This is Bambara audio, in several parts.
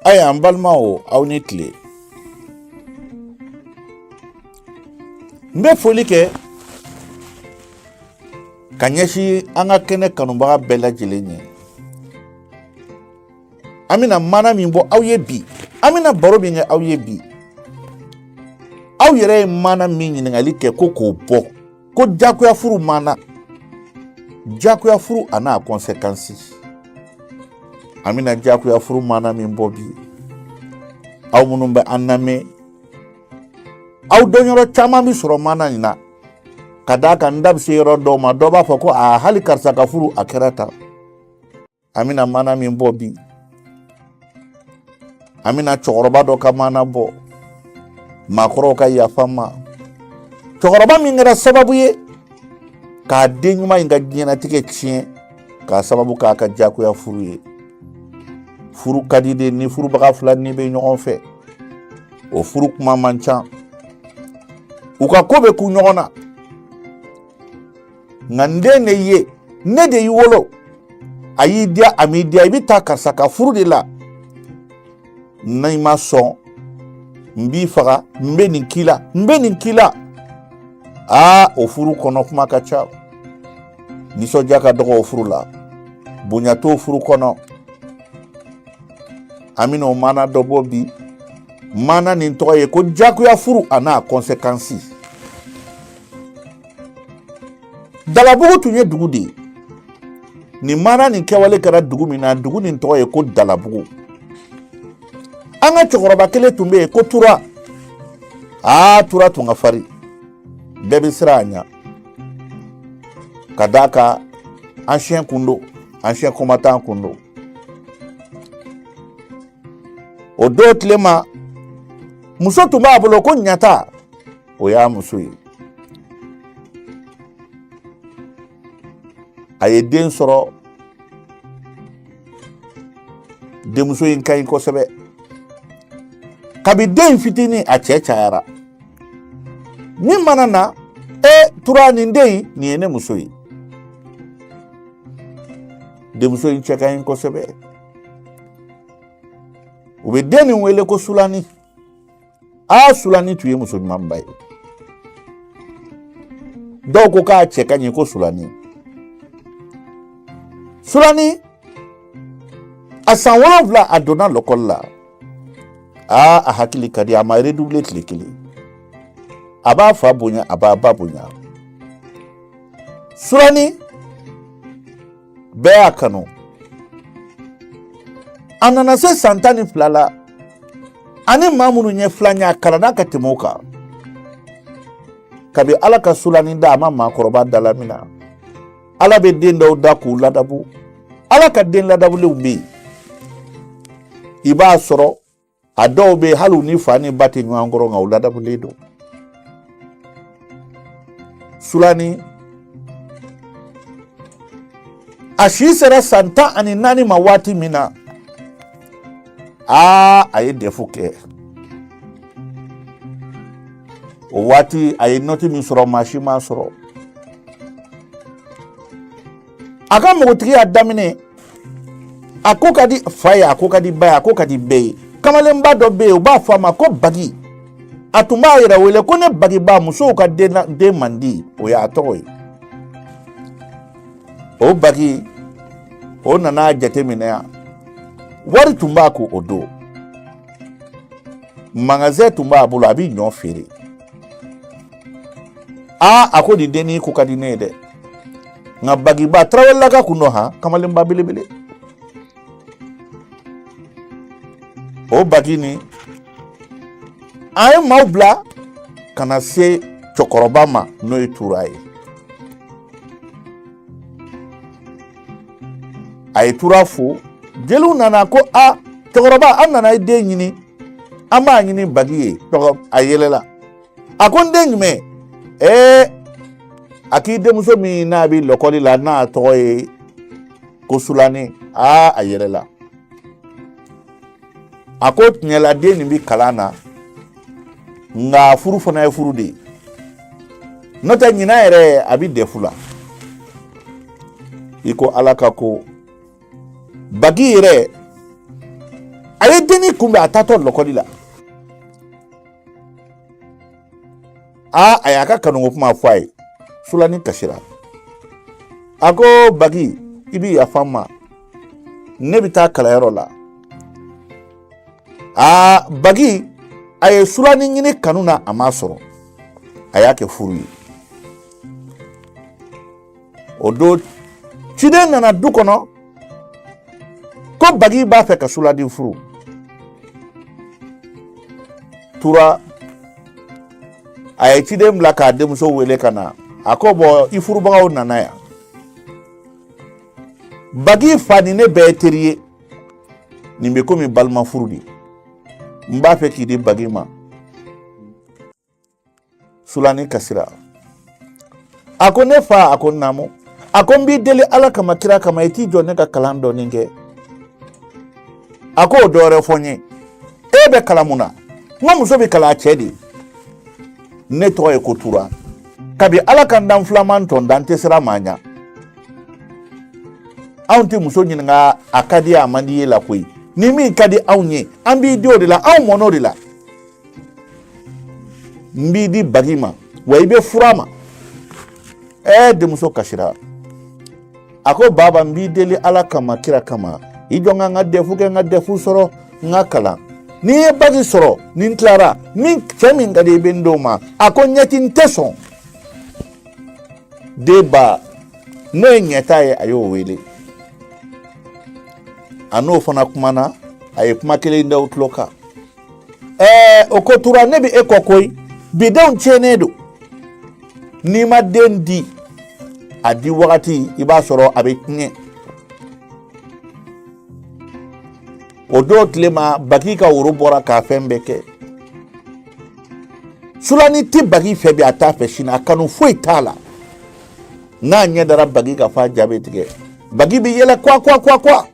aya n balimaw aw ni tile n bɛ foli kɛ ka ɲɛsin an ka kɛnɛ kanubaga bɛɛ lajɛlen ye an bɛna mana min bɔ aw ye bi an bɛna baro min kɛ aw ye bi aw yɛrɛ ye mana min ɲininkali kɛ ko k'o bɔ ko jagoya furu mana jagoya furu a n'a conséquence an bɛna jagoya furu mana min bɔ bi aw minnu bɛ an lamɛn aw dɔnyɔrɔ caman bɛ sɔrɔ mana in na ka d'a kan n da bɛ se yɔrɔ dɔw ma dɔ b'a fɔ ko a hali karisa ka furu a kɛra tan an bɛna mana min bɔ bi an bɛna cɛkɔrɔba dɔ ka mana bɔ maakɔrɔw ka yafa n ma cɛkɔrɔba min kɛra sababu ye k'a den ɲuman in ka diɲɛnatigɛ tiɲɛ k'a sababu k'a ka jagoya furu ye furu ka di de ni furubaga fila nin bɛ ɲɔgɔn fɛ o furu kuma man ca u ka ko bɛ kun ɲɔgɔn na nka n den de ye ne de y'i wolo a y'i diya a m'i diya i bɛ taa karisa ka furu de la n'i ma sɔn n b'i faga n bɛ nin k'i la n bɛ nin k'i la aa o furu kɔnɔ kuma ka ca nisɔndiya ka dɔgɔ o furu la bonya t'o furu kɔnɔ an bɛna o maana dɔ bɔ bi maana nin tɔgɔ ye ko jagoya furu a n'a conséquence Dalabugu tun ye dugu de ye nin mana nin kɛwale kɛra dugu min na dugu nin tɔgɔ ye ko dalabugu an ka cɛkɔrɔba kelen tun bɛ yen ko tura aa tura tun ka farin bɛɛ bɛ siran a ɲɛ ka d'a kan ancien kun don ancien combattant kun don o don tile ma muso tun b'a bolo ko ɲata o y'a muso ye a ye den sɔrɔ denmuso in ka ɲi kosɛbɛ kabi den fitinin a cɛ cayara min mana na e tura nin den in nin ye ne muso ye denmuso in cɛ ka ɲi kosɛbɛ u bɛ den nin wele ko sulani a sulani tun ye muso ɲumanba ye dɔw ko k'a cɛ ka ɲi ko sulani sulani a san wolonwula a donna lɔkɔli la aa a hakili ka di a ma redoubler tile kelen a b'a fa bonya a b'a ba bonya sulani bɛɛ y'a kanu a nana se san tan ni fila la ani maa minnu ye filan ye a kalanna ka tɛmɛ o kan kabi ala ka sulani da a ma maakɔrɔba dalamina ala bɛ den dɔw da k'u ladabu ala ka den ladabulenw bɛ yen i b'a sɔrɔ a dɔw bɛ yen hali u ni fa ni ba tɛ ɲɔgɔn kɔrɔ nka u ladabulen don sulani a si sera san tan ani naani ma waati min na aa a ye dɛfu kɛ o waati a ye nɔti min sɔrɔ maa si m'a sɔrɔ a ka npogotigiya daminɛ a ko ka di fa ye a ko ka di ba ye a ko ka di bɛɛ ye kamalenba dɔ bɛ yen u b'a fɔ a ma ko bagi a tun b'a yɛrɛ wele ko ne bagiba musow ka denmandi o y'a tɔgɔ ye o bagi o nana jateminɛ yan wari tun b'a kun o don magasɛn tun b'a bolo a bɛ ɲɔ feere aa a ko nin dennin ko ka di ne ye dɛ nka bagiba tarawelelaka kun don han kamalenba belebele o bagi nin a ye maaw bila ka na se cɛkɔrɔba ma n'o ye tura ye a ye tura fo jeliw nana ko a cɛkɔrɔba an nana i den ɲini an b'a ɲini bagi ye a yɛlɛla a ko n den jumɛn ɛɛ a k'i denmuso min n'a bɛ lɔkɔli la n'a tɔgɔ ye ko sulani aa a yɛlɛla a ko tiɲɛla den nin bɛ kalan na nka furu fana ye furu de ye n'o tɛ ɲinan yɛrɛ a bɛ dɛfu la i ko ala ka ko bagi yɛrɛ a ye dennin kunbɛn a taatɔ lɔkɔli la aa a y'a ka kanuko kuma fɔ a ye sulani kasira a ko bagi i bi yafa n ma ne bɛ taa kalanyɔrɔ la aa bagi a ye sulani ɲini kanu na a m'a sɔrɔ a y'a kɛ furu ye o don ciden nana du kɔnɔ ko bagi b'a fɛ ka sulani furu tura a ye ciden bila k'a denmuso wele ka na a ko bɔn i furubagaw nana yan bagi fa ni ne bɛɛ ye teri ye nin bɛ komi balima furu de n b'a fɛ k'i di bagi ma sulani kasira a ko ne fa a ko naamu a ko n b'i deli ala kama kira kama i t'i jɔ ne ka kalan dɔɔnin kɛ a ko o dɔwɛrɛ fɔ n ye e bɛ kalan mun na nka muso bɛ kalan a cɛ de ne tɔgɔ ye ko tura kabi ala ka n dan filaman tɔn da n tɛ siran maa ɲa anw tɛ muso ɲininka a ka di a man d'i ye la koyi ni min ka di anw ye an b'i di o de la anw mɔn'o de la n b'i di bagi ma wa i bɛ fur'a ma ɛɛ denmuso kasira a ko baba n b'i deli ala kama kira kama i jɔ n ka n ka dɛfu kɛ n ka dɛfu sɔrɔ n ka kalan ni n ye baki sɔrɔ ni n tilara min cɛ min ka di i bɛ n d'o ma a ko ɲɛti n tɛ sɔn denba n'o ye ɲɛta ye a y'o wele a n'o fana kumana a ye kuma kelen da o tulo kan ɛɛ o ko tura ne bɛ e kɔ koyi bidenw tiɲɛnen don n'i ma den di a di wagati i b'a sɔrɔ a bɛ tiɲɛ o don tile ma bagi ka woro bɔra k'a fɛn bɛɛ kɛ sulani tɛ bagi fɛ bi a t'a fɛ sini a kanu foyi t'a la n'a ɲɛ dara bagi kan f'a ja bɛ tigɛ bagi bɛ yɛlɛ kwa kwa kwa kwa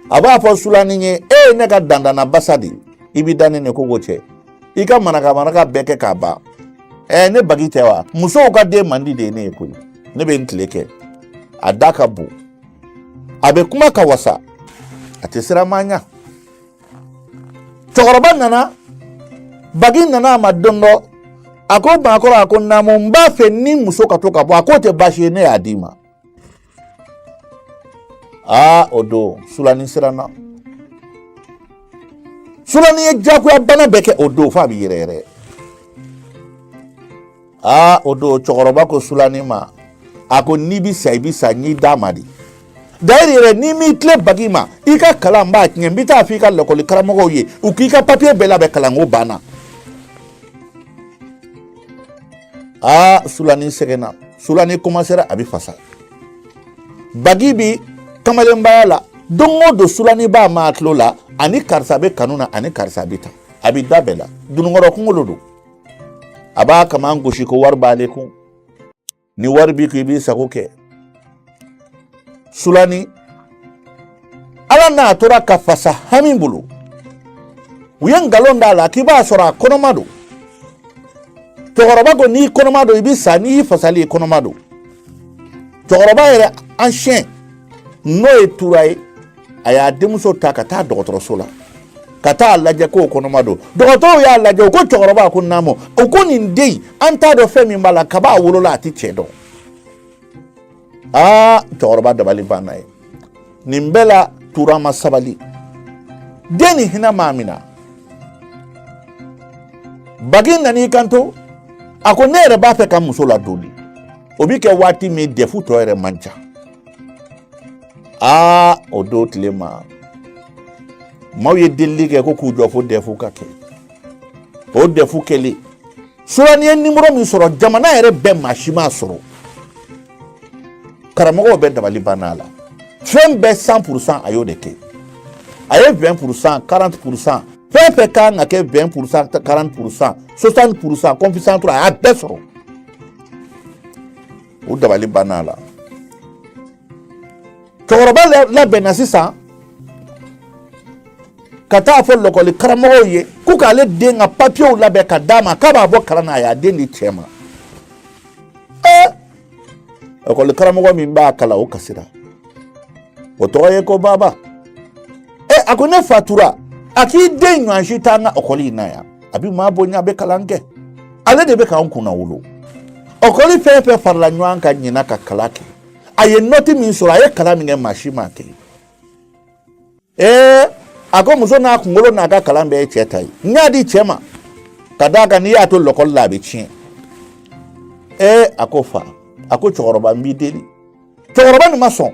a b'a fɔ sulani ye e ye ne ka dandana basa de i b'i da ne ni kogo cɛ i ka maraka maraka bɛɛ kɛ k'a ban ɛɛ ne bagi tɛ wa musow ka denmandi de ye ne ye koyi ne bɛ n tile kɛ a da ka bon a bɛ kuma ka wasa a tɛ siran maa ɲa cɛkɔrɔba nana bagi nana a ma don dɔ a ko baakɔrɔ a ko naamu n b'a fɛ ni muso ka to ka bɔ a k'o tɛ baasi ye ne y'a d'i ma aa o don sulani siranna sulani ye jagoya bana bɛɛ kɛ o don f'a bɛ yɛrɛ yɛrɛ aa o don cɛkɔrɔba ko sulani ma a ko n'i bɛ sa i bɛ sa n y'i d'a ma de d'ailleurs yɛrɛ n'i m'i tilen bagi ma i ka kalan b'a tiɲɛ n bɛ taa fɔ i ka lakɔli karamɔgɔw ye u k'i ka papiye bɛɛ labɛn kalanko banna aa sulani sɛgɛnna sulani komansera a bɛ fasa bagi bi kamalenbaya la don o don sulani b'a m'a tulo la a ni karisa bɛ kanu na a ni karisa bɛ taa a bɛ da bɛɛ la dununkɔrɔ kunkolo don a b'a kaman gosi ko wari b'ale kun ni wari b'i kun i b'i sago kɛ sulani ala n'a tora ka fasa hami bolo u ye nkalon d'a la k'i b'a sɔrɔ a kɔnɔma don cɛkɔrɔba ko n'i kɔnɔma don i bɛ sa n'i fasali i kɔnɔma don cɛkɔrɔba yɛrɛ ancien n'o ye tura ye a y'a denmuso ta ka taa dɔgɔtɔrɔso la ka t'a lajɛ ko kɔnɔma don dɔgɔtɔrɔw y'a lajɛ u ko cɛkɔrɔba ko naamu u ko nin den an t'a dɔn fɛn min b'a la kab'a wolola a tɛ cɛ dɔn aa cɛkɔrɔba dabali banna ye nin bɛɛ la tura ma sabali den nin hinɛ m'a minɛ bagi nan'i kanto a ko ne yɛrɛ b'a fɛ ka muso ladon de o bi kɛ waati min dɛfu tɔ yɛrɛ man ca aa o don tile ma maaw ye delili kɛ ko k'u jɔ fo dɛfu ka kɛ o dɛfu kɛlen surani ye nimoro min sɔrɔ jamana yɛrɛ bɛɛ maa si m'a sɔrɔ karamɔgɔw bɛɛ dabali banna a la fɛn bɛɛ san purusan a y'o de kɛ a ye vɛn purusan karante purusan fɛn fɛn kan ka kɛ vɛn purusan karante purusan sosani purusan coefficient trois a y'a bɛɛ sɔrɔ u dabali banna a la cɛkɔrɔba labɛnna sisan ka taa fɔ lɔkɔli karamɔgɔw ye ko k'ale den ka papiyew labɛn ka d'a ma k'a b'a bɔ kalan na a y'a den di cɛ ma ee lɔkɔli karamɔgɔ min b'a kalan o kasira o tɔgɔ ye ko baba ee a ko ne fa tura a k'i den ɲɔgɔn si t'an ka ekɔli in na yan a bɛ maa bonya a bɛ kalan kɛ ale de bɛ k'an kunnawolo ekɔli fɛn fɛn farala ɲɔgɔn kan ɲinan ka kalan kɛ a ye nɔti min sɔrɔ a ye kalan min kɛ maa si m'a kɛ ee a ko muso n'a kunkolo n'a ka kalan bɛɛ ye cɛ ta ye n y'a di cɛ ma ka d'a kan n'i y'a to lɔkɔli la a bɛ tiɲɛ ee a ko fa a ko cɛkɔrɔba n b'i deli cɛkɔrɔba nin ma sɔn